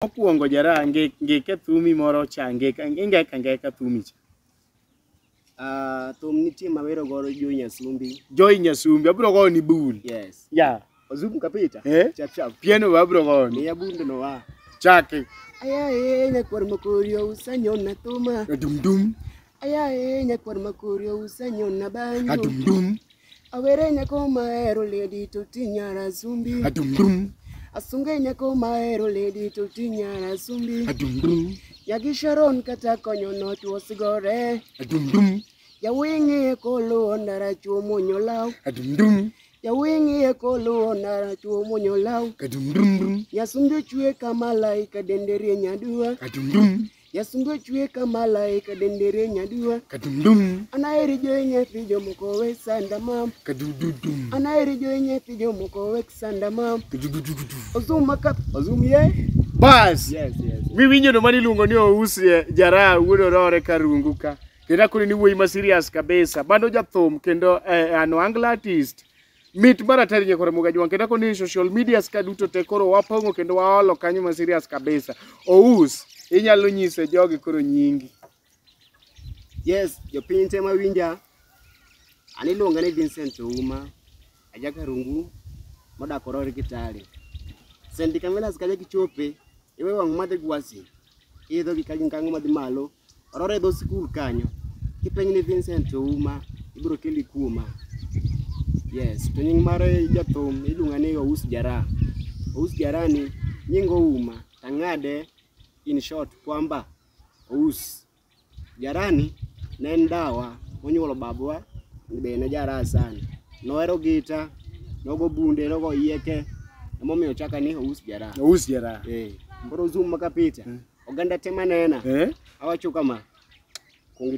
Mokwongo jara nge nge ka thumi moro cha nge ka nge ka nge ka thumi cha. Ah, thum nitie ma wero godo Joy Nyasumbi. Joy Nyasumbi abro go ni bul. Yes. Ya. Wazungu kapita. Eh? Chap chap. Piano abro go ni. Miya bunde no wa. Chake. Aya eh nyakwar mokorio usanyona thuma. Dum dum. Ayaye nyakwar makori ousanyona banyo Adum-dum, awere nyako mahero ledi to tinyara sumbi adum-dum, asunge nyako mahero ledi to tinyara sumbi adum-dum, nyagi sharon kata konyo notwo sigore adum-dum, jawing'iye koluwo ndara chuo mwonyo law adum-dum, jawing'iye koluwo ndara chuo mwonyo law adum-dum-dum, nyasumbi ochwe ka malaika dende rieny aduwa adum-dum, Yasungo chwe ka malaika dendere nyadua kadumdum Anaheri joe nyathi jomoko we sanda mam kadududum Anaheri joe nyathi jomoko we sanda mam kadudududu Ozum makap ozum ye bas Yes yes miwinjo no mani iluongo ni ous eh, jaraha wuod orore karungu ka kendo akoni ni wuoyi ma serious kabisa bando jathum kendo eh, an wangla artist Mit maratari nyakore muga jwang kendo ako ni social media ska duto te koro wapong'o kendo waolo kanyo ma serious kabisa. Ous inyalo nyise jogi koro nyingi. Yes, jopiny te mawinja. An iluonga ni Vincent Ouma, ajaka rungu modak Orori Kitale. Sendi Kamelas kaja kichope, iwe wang' madhi gwasi. Idho gi kagin kango madhi malo. Orora e dho skul kanyo. Kipenj ni Vincent Ouma, ibiro keli kuoma. Yes, to nying mar jathum iluonga ni Ous Jara. Ous Jara ni nying Ouma, tang'ade in short kwamba Ous. Jarani ne en dawa monyuolo babwa be ne jaraha sana. Nohero gita, nogo bunde, nogo yieke. Emomiyo chaka ni ous jaraha. Ous jaraha. Eh, koro zoom maka picha. Oganda te manena. Eh? Awacho kama. Kuongo